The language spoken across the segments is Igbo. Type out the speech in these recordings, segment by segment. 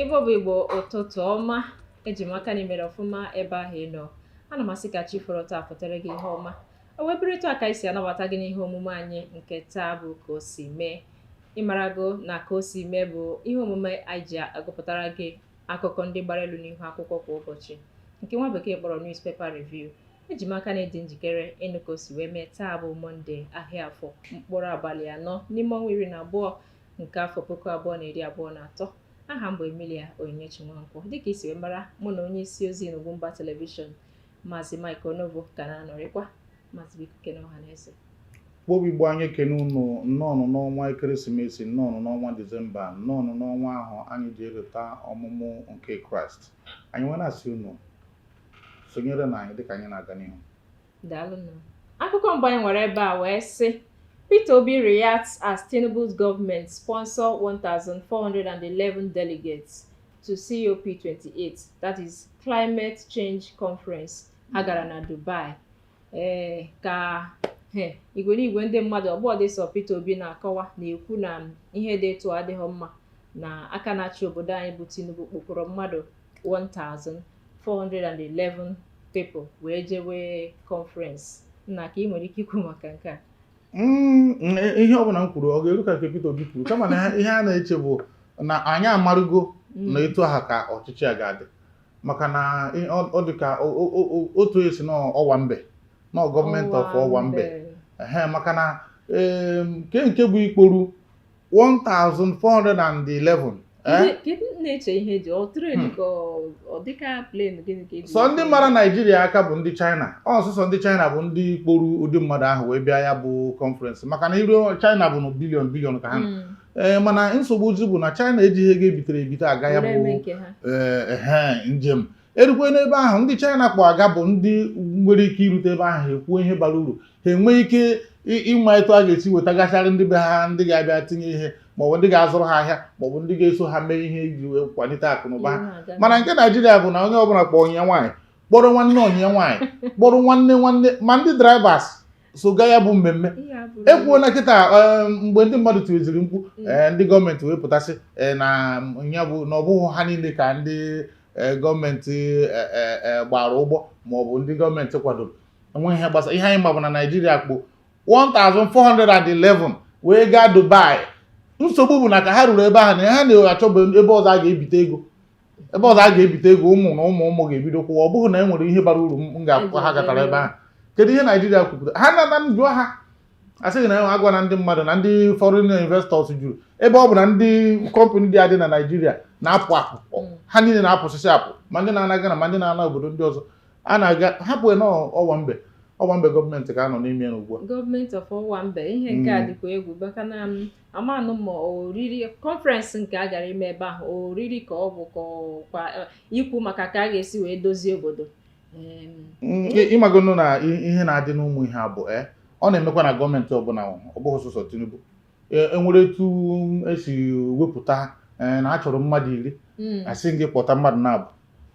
Igbo bụ Igbo ụtụtụ ọma eji m aka na i mere ọfụma ebe ahụ ị nọ ana m asị ka chi foro taa fotara gị ihe ọma o wee bụrụ etu a ka anyị si anabata gị n'ihe omume anyị nke taa bụ ka o si mee ịmarago na ka o si mee bụ ihe omume anyị ji agụpụtara gị akụkọ ndị gbara elu n'ihu akwụkwọ kwa ụbọchị nke nwa bekee kpọrọ newspaper review eji m aka na ị dị njikere ịnụ ka o si wee mee taa bụ mọnde ahịa afọ mkpụrụ abalị anọ n'ime ọnwa iri na abụọ nke afọ puku abụọ na iri abụọ na atọ aha m bụ emilia onyinyechi nwankwọ dịka i si wee mara mụ na onye isi ozi n'Ugwumba telivishọn maazị Mike Onovo ka na-anọrịkwa maazị biko kene ọha na eze kpobi igbo anyị ekene unu nnọọnụ n'ọnwa ekeresimesi nnọọnụ n'ọnwa disemba nnọọnụ n'ọnwa ahụ anyị ji elota ọmụmụ nke kraịst anyị wee na-asị unu sonyerenụ anyị dịka anyị na-aga n'ihu daalụnụ akụkọ mbụ anyị nwere ebe a wee sị Peter Obi reacts as Tinubu's government sponsor 1,411 delegates to COP28 that is climate change conference a gara na Dubai ee eh, ka eh, igwe n'igwe ndị mmadụ ọgbọ dị so Peter Obi na-akọwa na-ekwu na ihe dị etu a adịghị mma na aka na-achị obodo anyị bụ Tinubu kpokọrọ mmadụ 1411 people wee jewe conference nna ka ị nwere ike ikwu maka nke a Mm, mm, e, ihe ọbụla m kwuru ọ ga-eru ka nke Peter Obi kwuru kama na ihe a na-eche bụ na anyị amarụgo mm. na etu aha ka ọchịchị a ga-adị maka na ị- ọ ọ dị ka o- o- o- o- otu e si na owambe na gọọmenti of owambe ehe maka na em, nke nke bụ ikporu 1411 eh? Kedu- kedu m na-eche ihe ji ọ tren Hmm. ka ọ- ọ dịka plen gịnị ka e ji sọ ndị mara naijiria aka bụ ndị china ọ sọsọ ndị china bụ ndị kporu ụdị mmadụ ahụ wee bịa ya bụ kọnferensị maka na i ru china bụ na bilion bilion ka ha nọ. Mm. ee mana nsogbu zi bụ na China ejighị ego e bitere ebite aga ya bụ ee njem e rukwe n'ebe ahụ ndị China kpọ aga bụ ndị nwere ike irute ebe ahụ ha ekwuo ihe bara uru ha enwee ike ịma etu a ga-esi wetagasịrị ndị be ha ndị ga-abịa tinye ihe maọbụ ndị ga-azụrụ ha ahịa maọbụ ndị ga-eso ha mee ihe iji wee kwalite akụnụba ha mana nke Naijiria bụ na onye ọbụla kpọọ enyi ya nwaanyị kpọrọ nwanne enyi ya nwaanyị kpọrọ nwanne nwanne ma ndị drivers so gaa ya bụ mmemme e kwuo na kịta eh, mgbe ndị mmadụ tiweziri mkpu mm. eh, ndị gọọmenti wee pụta sị eh, na ya bụ na ọ bụghị ha niile ka ndị gọọmenti gbaara ụgbọ ma ọ bụ ndị gọọmenti kwadoro enweghị ihe gbasara ihe anyị ma bụ na Naịjirịa kpo 1411 wee gaa Dubai nsogbu bụ na ka ha ruru ebe ahụ na ha na-achọbụ ebe ọzọ a ga-ebite ego ebe ọzọ a ga-ebite ego ụmụ na ụmụ ụmụ ga-ebido kwụwa ọ bụghị na e nwere ihe bara uru m ga-ekwu ha gatara ebe ahụ kedu ihe naijiria kwupụta ha nata m jụọ ha asị gị na agwa na ndị mmadụ na ndị foreign investors juru ebe ọbụna ndị kọmpanị dị adị na naijiria na-apụ apụ mm. ha niile na-apụsịsị apụ ma ndị na-ana Ghana ma ndị na-ana obodo ndị ọzọ a na-aga hapụ na owambe owambe gọọmenti ka a nọ n'ime ya ugbu a gọọmenti of owambe ihe nke a mm. dịkwa egwu maka na amanụ ma oriri kọnferensị nke a gara ime ebe ahụ oriri ka ọ bụ kwa ikwu maka ka a ga-esi wee dozie obodo mm, ị magonụ na ihe na-adị n'ụmụ ihe a bụ e, ọ na-emekwa na gọọmenti ọbụla ọ bụghị sọsọ Tinubu enwere e etu esi wepụta e, na a chọrọ mmadụ iri mm. asị gị kpọta mmadụ naabọ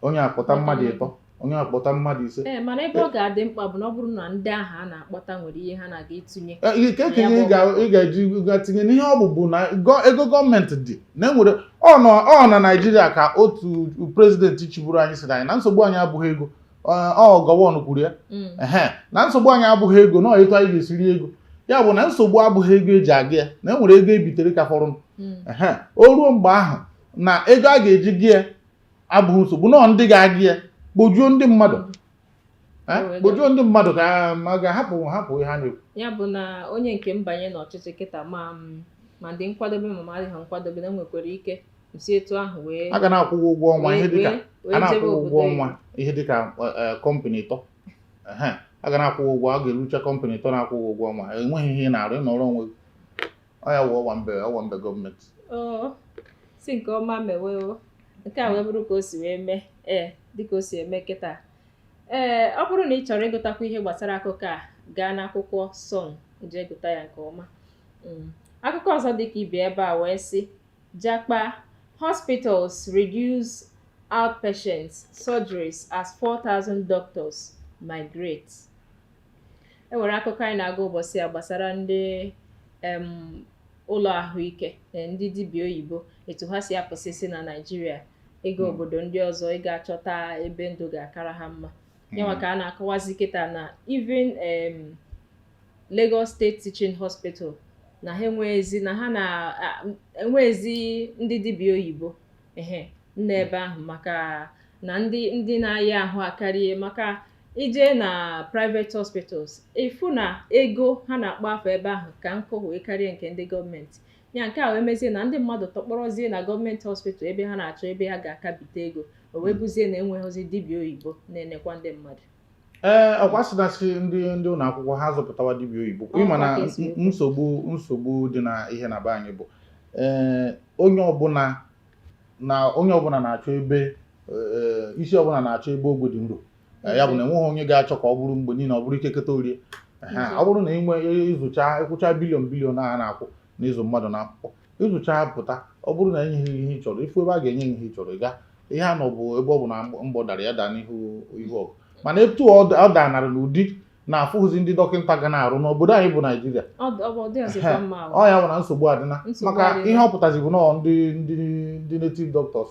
onye akpọta mmadụ ịtọ onye akpọta mmadụ ise ee mana ebe ọ ga-adị mkpa bụ na ọ bụrụ na ndị ahụ a na-akpọta nwere ihe ha na-aga itinye ike ka ihe ị ga-eji ga tinye n'ihe ọ bụbu na ego gọọmenti dị na enwere ọ na Naịjirịa ka otu prezidenti chịburu anyị sịrị anyị na nsogbu anyị abụghị ego ọ Gowon kwuru ya mm. na nsogbu anyị abụghị ego na etu anyị ga-esi ri ego ya bụ na nsogbu abụghị ego eji aga ya na enwere ego ebitere ka fọrọ mm. o ruo mgbe ahụ na ego a ga-eji ga ya abụghị nsogbu na ọ ndị ga-aga ya kpojuo ndị mmadụ kpojuo ndị mmadụ ka ma ga-ahapụ hapụ ihe ha na-ekwu ya bụ na onye nke m banye n'ọchịchị kịta ma m adị nkwadobe ma m adịghị nkwadobe na nwekwara ike si etu ahụ wee a ga na-akwụ gị ụgwọ ọnwa ihe dịka a na-akwụ gị ụgwọ ọnwa ihe dịka kọmpanị ịtọ a ga na-akwụ gị ụgwọ a ga-erucha kọmpanị ịtọ na-akwụ gị ụgwọ ọnwa enweghị ihe ị na-arụ ị nọrọ onwe gị ọ ya wụ owambe owambe gọọmenti oo si nke ọma mewe o nke a wee bụrụ ka o si wee mee ee dịka o si eme kịta ee ọ bụrụ na ị chọrọ ịgụtakwu ihe gbasara akụkọ a gaa n'akwụkwọ Sun jee gụta ya nke ọma Mm. akụkọ ọzọ dịka ibi ebe a wee sị japa hospitals reduce outpatients surgeries as 4000 doctors migrate e nwere akụkọ anyị na-agụ ụbọchị a gbasara ndị em, ụlọ ahụike eh, ndị dibịa oyibo etu ha si apụsịsị na naijiria ịga obodo ndị ọzọ ịga achọta ebe ndụ ga-akara ha mma yanwa ka a na-akọwazi kịta na even em, Lagos State Teaching Hospital na ha enweghịzi na ha na-enweghịzi ndị dibịa oyibo ehe n'ebe ahụ maka na ndị ndị na-aya ahụ akarịa maka ije na private hospitals ị fụ na ego ha na-akpọ afa ebe ahụ ka nnukwu wee karịa nke ndị gọọmenti ya nke a wee mezie na ndị mmadụ tọkpọrọzie na gọọmenti hospital ebe ha na-achọ ebe ha ga-akabite ego o wee bụzie na enweghịzi dibịa oyibo na-enekwa ndị mmadụ ee ọkwa sị na sị ndị ndị ụlọ akwụkwọ ha zụpụtawa dibịa oyibo kwa ịma na Ọkwa ka esi ekwu. nsogbu nsogbu dị na ihe na be anyị bụ ee onye ọbụla na onye ọbụla na-achọ ebe ee, isi ọbụla na-achọ ebe ogwe dị nro Ee, ya bụ na enweghị onye ga-achọ ka ọ bụrụ mgbe niile ọ bụrụ ike keta orie Ehe, ọ bụrụ na inwe ịzụcha ịkwụcha billion billion a na-akwụ n'ịzụ mmadụ n'akwụkwọ ịzụcha pụta ọ bụrụ na enyeghị ihe ị chọrọ ịfụ ebe a ga-enye ihe ị chọrọ ịga ihe a nọ bụ ebe ọbụla mgbọ dara ya daa n'ihu ihu ọgụ mana etu ọ danara n'ụdị na-afụghịzi ndị dọkịta ga na-arụ n'obodo anyị bụ Naijiria ọ ya bụ na nsogbu adịna maka ihe ọ pụtazi bụ nọọ ndị ndị native doctors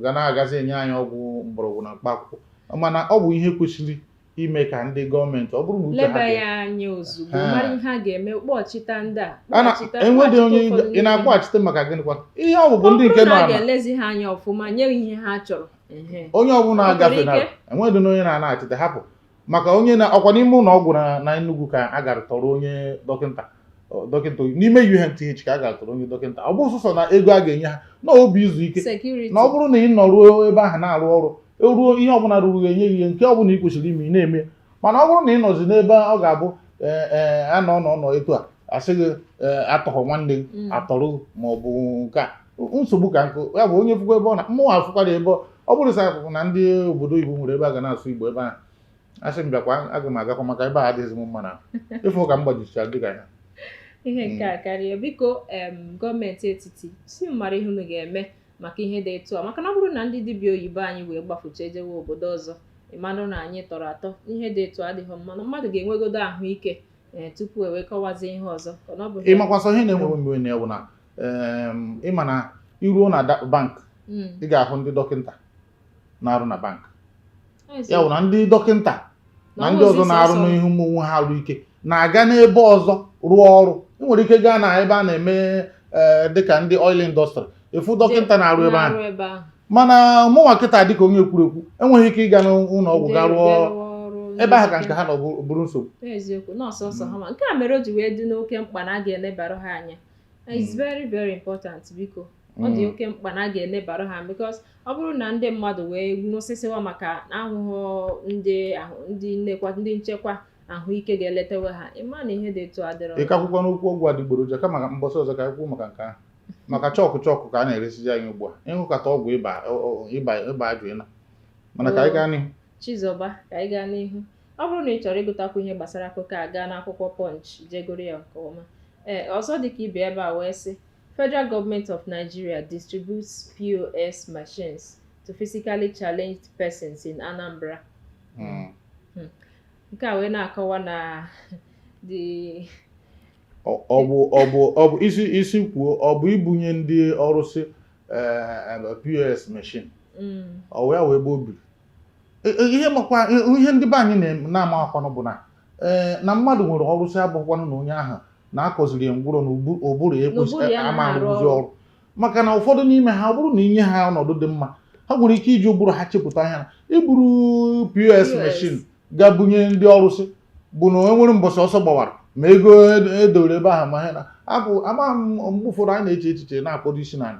ga na-agazi enye anyị ọgwụ mgbọrọgwụ na mkpa akwụkwọ mana ọ bụ ihe kwesịrị ime ka ndị gọọmenti buru n'uche leba ya anya ozugbo mara ihe a ga-eme kpọchita ndị a enwedị onye ị na-akpọchite maka gịnịkwa ihe ọ bụbụ ndị nke nọ a ga-elezi ha anya ọfụma nye ihe ha chọrọ onye ọbụla agafe na enwedị onye na-anachite hapụ maka onye na ọkwa n'ime ụlọ ọgwụ na Enugu ka a gara tọrọ onye dọkịta dọkịta n'ime UNTH ka a gara tọrọ onye dọkịta ọ bụ sọsọ na ego a ga-enye ha na ọ bụ izu ike na ọ bụrụ na ị nọruo ebe ahụ na-arụ ọrụ eruo ihe ọbụla ruru gị enye gị ihe nke ọbụla ị kwesịrị ime ị na-eme mana ọ bụrụ na ị nọzi n'ebe ọ ga-abụ ee ee a nọ nọ nọ etu a asị gị ee atọghọ nwanne gị Mm. atọrọ gị ma ọ bụ nke a nsogbu ka nkụ ya bụ onye fụkwa ebe ọ na mụnwa afụkwara ebe ọ- ọ bụrụ sa akwụkwọ na ndị obodo oyibo nwere ebe a ga na-asụ Igbo ebe ahụ asị m bịakwa aga m agakwa maka ebe a adịghịzi m mma na ịfụ ka m gbajichara dịka ya ihe nke a karịa biko em gọọmenti etiti si mara ihe unu ga-eme maka ihe dị etu a maka na ọ bụrụ na ndị dibịa oyibo anyị wee gbafucha ejewe obodo ọzọ ịmanụ na anyị tọrọ atọ ihe dị etu a adịghị mma na mmadụ ga-enwegodo ahụike ee tupu e wee kọwazi ihe ọzọ ka na ọ bụ ihe- ị makwa sọ ihe na-ewe m iwe na ya wụ na em, ịma na i ruo na da- bank Mm, ị ga-ahụ ndị dọkịta na-arụ na bank ya bụ na ndị dọkịta na ndị ọzọ na-arụ n'ihu ụmụnwe ha arụ ike na-aga n'ebe ọzọ rụọ ọrụ ị nwere ike gaa na ebe a na-eme eh, dịka ndị oil industry ị fụ dọkịta na-arụ ebe ahụ mana mụnwa kịta dịka onye ekwurekwu enweghị ike ịga n'ụlọ ọgwụ ga rụọ ebe ahụ ka nke ha nọ bụrụ nsogbu eziokwu nọọsụ nsọ ha ma nke a mere o ji wee dị n'oke mkpa na a ga-elebara ha anya it's hmm. very very important biko ọ dị hmm. oke mkpa na a ga-elebara ha because ọ bụrụ na ndị mmadụ wee nwụsịsịwa maka ahụhụ ndị ndị nnekwa ndị nchekwa ahụike ga-eletawa ha ịma na ihe dị etu a adịrọ ị ka ekwukwanụ okwu ọgwụ adịgboroja kama ka mbọsị ọzọ ka anyị kwuo maka nke ahụ maka chalk chalk ka a na-eresizi anyị ugbu a ị ṅụkata ọgwụ ịba ịba ịba ajụ ịna mana ka anyị gaa n'ihu Chizọba ka anyị gaa n'ihu ọ bụrụ na ị chọrọ ịgụtakwu ihe gbasara akụkọ a gaa n'akwụkwọ Punch je gụọrọ ya nke ọma ee ọzọ dịka ibe ebe a wee sị Federal Government of Nigeria distributes POS machines to physically challenged persons in Anambra. Hmm. Hmm. Nke a wee na-akọwa na the ọ bụ ọ bụ ọ bụ isi isi okwu ọ bụ ibunye ndị ọrụsị eh, eh, POS machine hmm. ọ wee wee ebe o biri e, e, ihe makwa e, ihe ndị be anyị na-amakwanụ bụ na eh, na mmadụ nwere ọrụsị abụghịkwanụ na onye ahụ na a kụziri ya ngwụrọ na ụbụrụ ya ekwesịrị ama arụzi ọrụ maka na ụfọdụ n'ime ha ọ bụrụ na i nye ha ọnọdụ dị mma ha nwere ike iji ụbụrụ ha chepụta ihe na iburu POS machine gaa bunye ndị ọrụsị bụ na enwere mbọsị ọsọ gbawara ma ego edowere e ebe ahụ ma ha na abụ amaghị m mgbe ụfọdụ anyị na-eche echiche na-akpọdo isi n'ala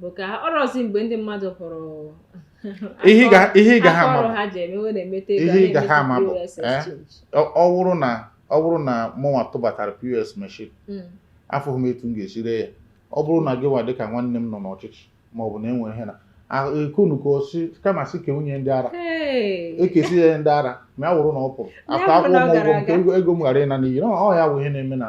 bụ ka ọrọzi mgbe ndị mmadụ hụrụ ihe ị gaghị ama bụ ihe ị gaghị ama bụ ọ wụrụ na ọ bụrụ na mụnwa tụbatara POS machine hmm. afụghị m etu m ga-esi ree ya ọ bụrụ na gị nwa dịka nwanne m nọ n'ọchịchị ma ọ bụ na enwere ihe na ekunu ka ọ sị kama sị kenye ndị ara ekesi ya ndị ara ma ya wụrụ na ọ pụrụ afọ akwụ ụgwọ nke ego m ghara ịna n'iyi ọ ya bụ ihe na-eme na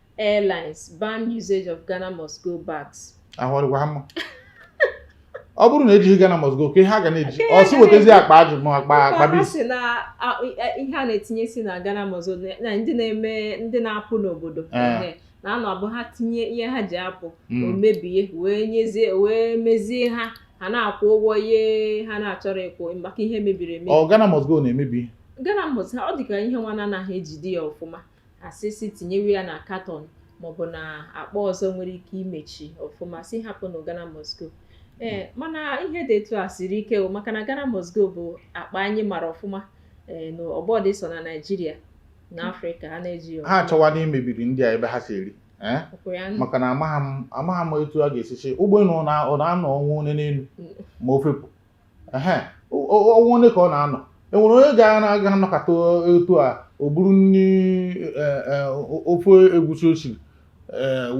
airlines ban usage of Ghana must go bags. ahụ ọ dịkwa ha mma ọ bụrụ na ejighị Ghana must go kee ihe a ga na-eji ọ sị wetazi akpa aji ma akpa akpa Kwa ha bis si na a- a- ihe a na-etinyesi na Ghana must go na- na ndị na-eme ndị na-apụ n'obodo Eh. ehe, na ọ na-abụ ha tinye ihe ha ji apụ o Mm. mebie wee nyezie wee mezie ha ha na-akwụ ụgwọ ihe ha na-achọrọ ịkwụ maka ihe mebiri emebi ọ Ghana must go na-emebi ihe. Ghana must ha ọ dị ka ihe nwa na-anaghị ejide ya ọfụma a sị sị tinyewe ya na katọn maọbụ na akpa ọzọ nwere ike imechi ọfụma sị hapụnụ Ghana must go ee mana ihe dị etu a siri ike o maka na Ghana must go bụ akpa anyị mara ọfụma ee na ọ bụdị sọ na Naịjirịa na Afrịka a na-eji ya ha achọwana imebiri ndị a ebe ha si eri ee ọ bụ ya nụ. maka na amaghị m amaghị m etu a ga-esi sị ụgbọelu ọ na- ọ na-anọ ọnwa one n'elu ma o fepụ ehe ọnwa ole ka ọ na-anọ enwere onye ga-aga anọkata etu a o buru nri e, e, ofe egwusi o siri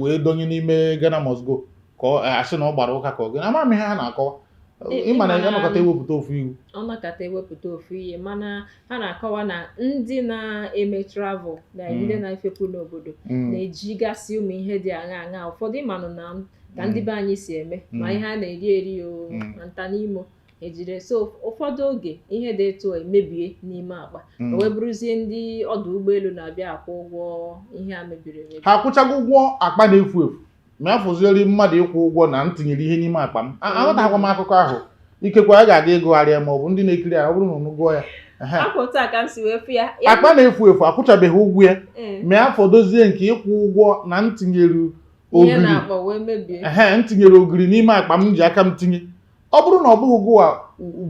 wee donye n'ime Ghana must go ka a sị na ọ gbara ụka ka ọ gị ama m ihe ha na-akọwa ị ma na a nọkata ewepụta ofu iwu a nọkata ewepụta ofu ihe mana ha na-akọwa na ndị na-eme travel na ndị mm. na-efepụ n'obodo mm. na-ejigasị ụmụ ihe dị aṅa aṅa ụfọdụ ị manụ na ka ndị be anyị si eme ma ihe a na-eri eri o ma nta n'imo ejire so ụfọdụ oge ihe dị etu emebie n'ime akpa mm. wee bụrụzie ndị ọdụ ụgbọelu na-abịa akwụ ụgwọ ihe a mebiri emebi ha akwụchago ụgwọ akpa na-efu efu ma ya fọzieri mmadụ ịkwụ ụgwọ na m tinyere ihe n'ime akpa m aghọtakwa m akụkọ ahụ ikekwe a ga-aga ịgụgharị ya ma ọ bụ ndị na-ekiri ya ọ bụrụ na unu gụọ ya akpa na-efu efu akwụchabeghị ụgwọ ya mm. ma ya fọdozie nke ịkwụ ụgwọ na m tinyere ihe ogiri na-akpọ wee mebie ehe m tinyere ogiri n'ime akpa m ji aka m tinye ọ bụrụ na ọ bụghị gụwa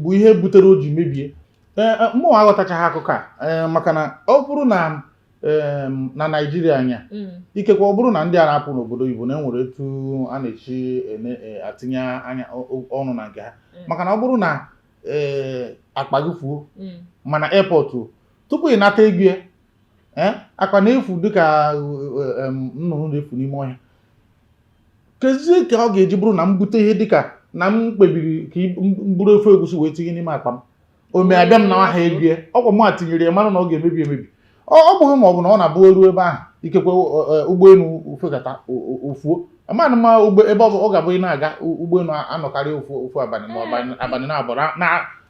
bụ ihe butere o ji mebie ee, e, mụ aghọtachaghị akụkọ a ee, maka na ọ bụrụ na em, na naijiria anya Mm. ikekwe ọ bụrụ na ndị a na-apụ n'obodo oyibo na enwere etu a na-echi ene- e, atinye anya ọ- ọ- ọnụ na nke ha Mm. maka na ọ bụrụ na ee, akpa gị fuo Mm. mana airport o, tupu ị nata ego ya eh, akpa na-efu dịka eh, nnụnụ na-efu n'ime ọhịa kezi ka ọ ga-eji bụrụ na m bute ihe dịka na m kpebiri ka m buru ofe egusi wee tinye n'ime akpa m o mee abịa m nawa ha ego ya ọkwa m a tinyere ya mara na ọ ga-emebi emebi ọ bụghị ma ọ bụ na ọ na-abụ eruo ebe ahụ ikekwe ụgbọelu fekata o fuo amanụ ma ebe ọ ga-abụ ị na-aga ụgbọelu anọkarị ofu abalị ma abalị naabọ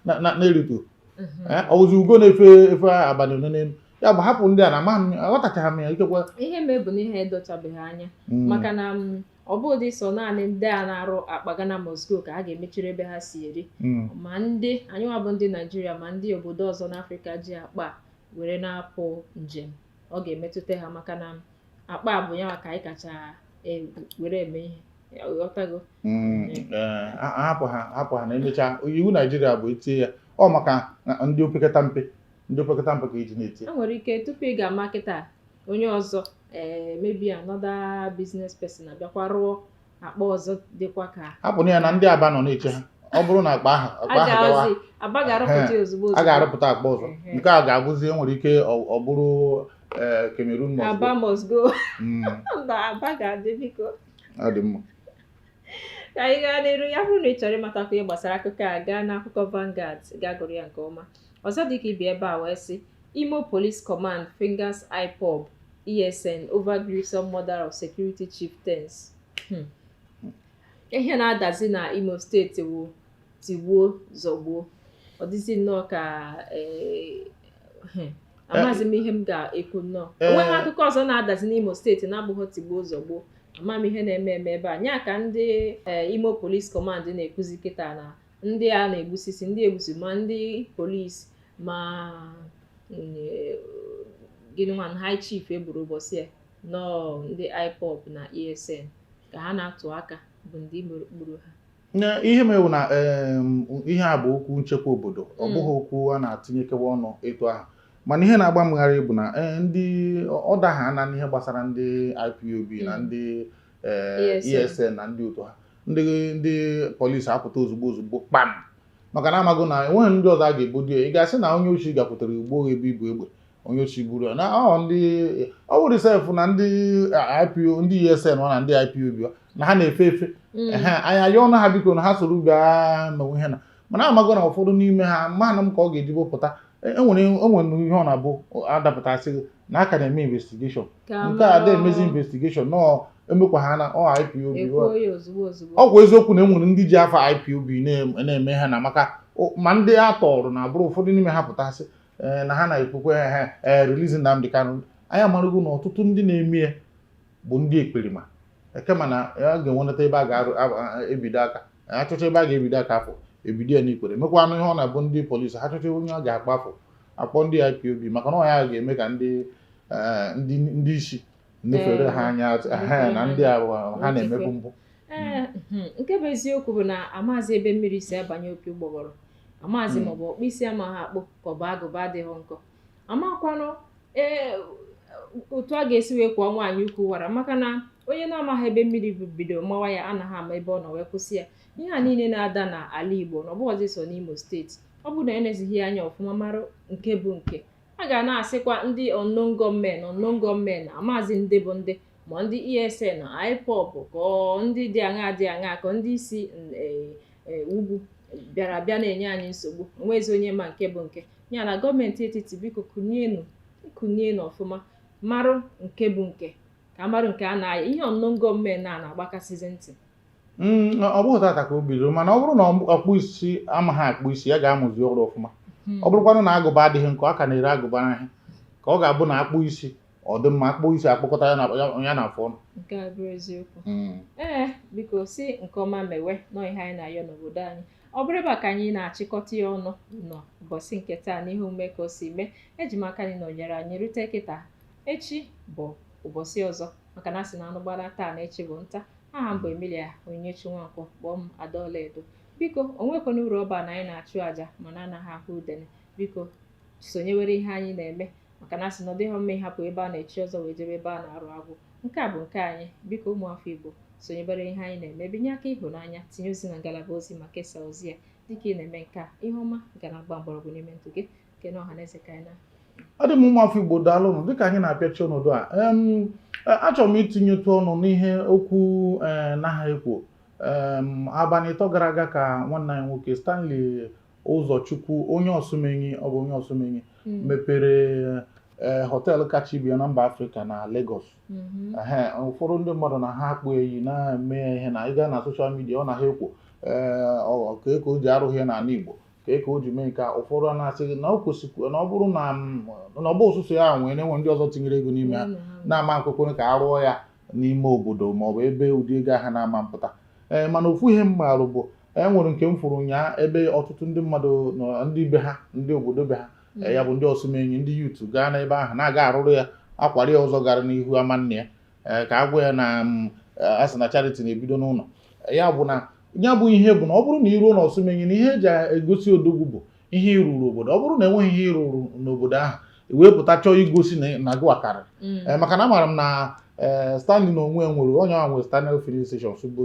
na-erito mhm. eh, ọ bụzi ugo na-efe efe abalị ole n'elu ya bụ hapụ ndị a na amaghị m aghọtachaghị m ya ikekwe ihe mebụ na ihe edochabeghị anya hmm. maka na mm, ọ bụghị sọ naanị ndị a na-arụ akpa Ghana must go ka a ga-emechiri ebe ha si eri hmm. ma ndị anyịnwa bụ ndị Naijiria ma ndị obodo ọzọ n'Afrịka ji akpa were na-apụ njem ọ ga-emetụta ha maka na akpa bụ ya ka anyị kacha e, were eme ihe mm, eh, hapụ ha hapụ ha na emechaa iwu naijiria bụ etie ya ọ maka ndị opekata mpe ndị opekata mpe ka eji e na-eti e nwere ike tupu ị ga-ama kịta onye ọzọ eh, maybe another business person abịakwa rụọ akpa ọzọ dịkwa ka hapụ ya na ndị Aba nọ na-eche ha ọ bụrụ na akpa ahụ akpa ahụ gawa a ga-arụpụta akpa ọzọ nke a ga-abụzi e nwere ike ọ bụrụ eh, Cameroon must go hmm. ọ dị mma ka anyị gaa n'iru ya bụrụ na ị chọrọ ịmatakwu ihe gbasara akụkọ a gaa n'akụkọ Vanguard gaa gụrụ ya nke ọma ọzọ dị ka ibe ya bịa wee sị Imo Police Command fingers IPOB ESN over gruesome murder of security chieftains hmm. ihe na-adazi na Imo steeti wu tigbuo zọgbuo ọ dịzi nnọọ ka eh, eh, amaghịzi m ihe m ga-ekwu nnọọ Eh. onweghị akụkọ ọzọ na-adazi n'Imo steeti na-abụghị tigbuo zọgbuo ama m ihe na-eme eme ebe a nya ka ndị eh, Imo Police Command na-ekwuzi kịta na ndị a na-egbusisi ndị egbusi ma ndị polisi ma mm, eh, gịnị nwa high chief egburu ụbọchị a na ọ ndị IPOB na ESN ka ha na-atụ aka bụ ndị gburu ha ihe mewu na ihe a bụ okwu nchekwa obodo ọ hmm. bụghị okwu a na-atinyekewa ọnụ etu ahụ mana ihe na-agba m gharị bụ na eh, ndị ọ daha na ihe gbasara ndị IPOB na hmm. ndị ESN eh, e na ndị otu ha ndị ndị polisi apụta ozugbo ozugbo kpam maka na amago na enweghị ndị ọzọ a ga-ebodo ya ị ga-asị na onye oshi gakwutere ugbo ebe ibu egbe onye ochiburu na ọ ndị ọ wụrụ sef na ndị IPO ndị ESN ọ na ndị IPOB na ha na-efe efe mm. anyị ayọọnụ ha biko na ha soro bịa mewe ihe na mana amago na ụfọdụ n'ime ha mana m ka ọ ga-ejibo pụta enwere e enwere ihe ọ na-abụ adapụtasị na a ka na-eme investigation nke a da-emezi investigation nọọ emekwa ha na ọ IPOB ọkwa eziokwu na enwere ndị ji afa IPOB na-eme ha na maka ma ndị a tọọrọ na abụrụ ụfọdụ n'ime ha pụtasị eh, na ha na-ekwu ka eh, ha eh, release Nnamdi Kanu anyị amarago na ọtụtụ ndị na-eme ya bụ ndị ekperima kama na a ga-enwenata ebe a ga-ebido aka achọcha ebe a ga-ebido aka afọ ebido ya n'ikpere mekwanụ ihe ọ na-abụ ndị polisi ha chọcha onye ọ ga-akpọ afa akpọ ndị IPOB maka na ọ ya ga-eme ka ndị isi nefere ha anya na ndị ha na-emebu mpụ hmm. Hmm. nke bụ eziokwu bụ na amazi ebe mmiri si abanye opi ụgbọgọrọ amazi hmm. ma ọ bụ ọkpụ isi amaghị akpụ ka ọ bụ agụba adịghị nkọ amakwanụ ee otu a ga-esi wee kwọọ nwaanyị ukwu wara maka na onye na-amaghị ebe mmiri bido mawa ya anaghị ama ebe ọ nọ wee kwụsị ya ihe a niile na-ada n'ala Igbo na ọbụghọzi so n'Imo steeti ọ bụrụ na enezighị ya anya ọfụma mara nke bụ nke a ga na-asịkwa ndị unknown gunmen unknown gunmen amazi ndị bụ ndị ma ndị ESN IPOB ka ndị dị aṅa dị aṅa ka ndị si e, e, ugwu bịara abịa na-enye anyị nsogbu onwezi onye ma nke bụ nke ya na gọọmenti etiti biko kunienu kunienu ọfụma marụ nke bụ nke ka amarụ nke a na-aya ihe unknown gunmen a na-agbakasịzi ntị hmm, ọ bụghị tata ka o bidoro mana ọ bụrụ na ọkpụ isi amaghị akpụ isi ya gaa mụzie ọrụ ọfụma hmm. ọ bụrụkwanụ na agụba adịghị nkọ a ka na-ere agụba n'ahịa ka ọ ga-abụ na akpụ isi ọ dị mma akpụ isi akpụkọta ya na ya na afọ ọnụ nke a bụrụ eziokwu mm. ee biko si nke ọma mewe na ọ ihe anyị na-ayọ n'obodo anyị ọ bụrụ ebe a ka anyị na-achịkọta ya ọnụ n'ụbọchị nke taa n'ihe omume ka o si mee eji m aka na ị nọnyere anyị rute kịta echi bụ ụbọchị ọzọ maka na asị na anụ gbara taa na echi bụ nta aha m bụ Emilia Onyinyechi Nwankwo kpọọ m Ada Ọlaedo biko onwekwana uru ọ ba na anyị na-achụ àjà mana anaghị ahụ udene biko sonyewere ihe anyị na-eme maka na asị na ọ dịghị mma ịhapụ ebe a na-echi ọzọ wee jebe ebe a na-arụ agwụ nke a bụ nke anyị biko ụmụafọ Igbo sonyebere ihe anyị na-eme binye aka ịhụnanya tinye ozi na ngalaba ozi ma kesaa ozi ya dịka ị na-eme nke a ihe ọma ga na-agba mgbọrọgwụ n'ime ndụ gị nke na ọha na eze ka anyị na ọ dị m ụmụafọ Igbo daalụnụ dịka anyị na-apịachi ọnọdụ a achọrọ m itinyetụ ọnụ n'ihe okwu e, naha ekwo abalị ịtọ gara aga ka nwanne anyị nwoke Stanley Ụzọchukwu onye Osumenyi ọ bụ onye Osumenyi Mm. mepere eh, họteelụ kacha ibe ya na mba Afrịka na Lagos Mhm. Ehe, ụfọdụ ndị mmadụ na ha akpọ iyi na-eme ya ihe na ịga na soshal midia ọ na ha ekwu ee, ọ- kee ka o ji arụghị ya n'ala Igbo kee ka o ji mee nke a ụfọdụ a na-asị gị na o kwesịkwa na ọ bụrụ na m- na ọ bụghị sọsọ ya nwee na e nwere ndị ọzọ tinyere ego n'ime ya Ụlọ ha. na-ama nkwekwe ka a rụọ ya n'ime obodo ma ọ bụ ebe ụdị ego ahụ na-ama mpụta ee mana ofu ihe m marụ bụ e nwere nke m fụrụ ụnyaa ebe ọtụtụ ndị mmadụ nọ ndị be ha ndị obodo be ha Mm. ee, ya bụ ndị Osumenyi ndị youth gaa n'ebe ahụ na-aga arụrụ ya akwara ya ụzọ gara n'ihu ama nne ya ee, ka a gwa ya na mm, a sị na charity na-ebido n'ụlọ ya bụ na ya bụ ihe bụ na ọ bụrụ na iruo na Osumenyi na ihe eji egosi odogwu bụ ihe ịrụrụ obodo ọ bụrụ na enweghị ihe ịrụrụ n'obodo ahụ i wee pụta chọọ igosi na gịwa karịrị mm. eh, maka na amaara m na eh, Stanley na onwe nwere onye ahụ nwere Stanel filling stations bụ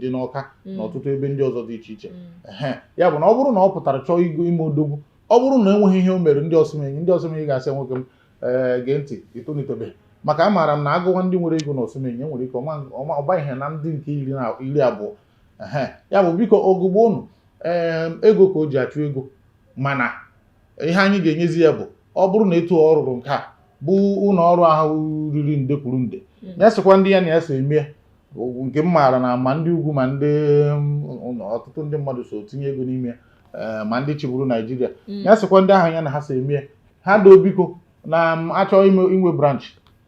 dị n'Ọka mm. na ọtụtụ ebe ndị ọzọ dị iche iche mm. ya bụ na ọ bụrụ na ọ pụtara chọọ igo ime odogwu ọ bụrụ na enweghị ihe o mere ndị Osumenyi ndị Osumenyi ga-asị nwoke m ee gee ntị i tolitebe maka amaara m na agụwa ndị nwere ego na Osumenyi nwere ike ọ banye na ndị nke iri abụọ ya bụ biko ogugbo unu ego ka o ji achụ ego mana ihe anyị ga-enyezi ya bụ ọ bụrụ na etu ọ rụrụ nke a bụ ụlọ ọrụ ahụ riri nde kwuru nde mm. ya sịkwa ndị ya na ya so emee nke m maara na ma ndị ugwu ma ndị um, ọtụtụ ndị mmadụ so tinye ego n'ime eh, ma ndị chịburu Naịjirịa mm. ya sịkwa ndị ahụ ya na ha so emee ha doo biko na m achọ ime inwe branch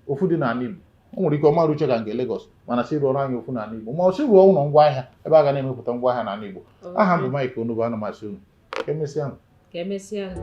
ofu dị n'ala Igbo o nwere ike ọ ma erucha ka nke Lagos mana sị rụọrọ anyị ofu n'ala Igbo ma ọ sị rụọ ụlọ ngwa ahịa ebe a ga na-emepụta ngwa ahịa n'ala Igbo aha m bụ Mike Onubu ana m asị unu ka emesịa nụ. ka emesịa nụ.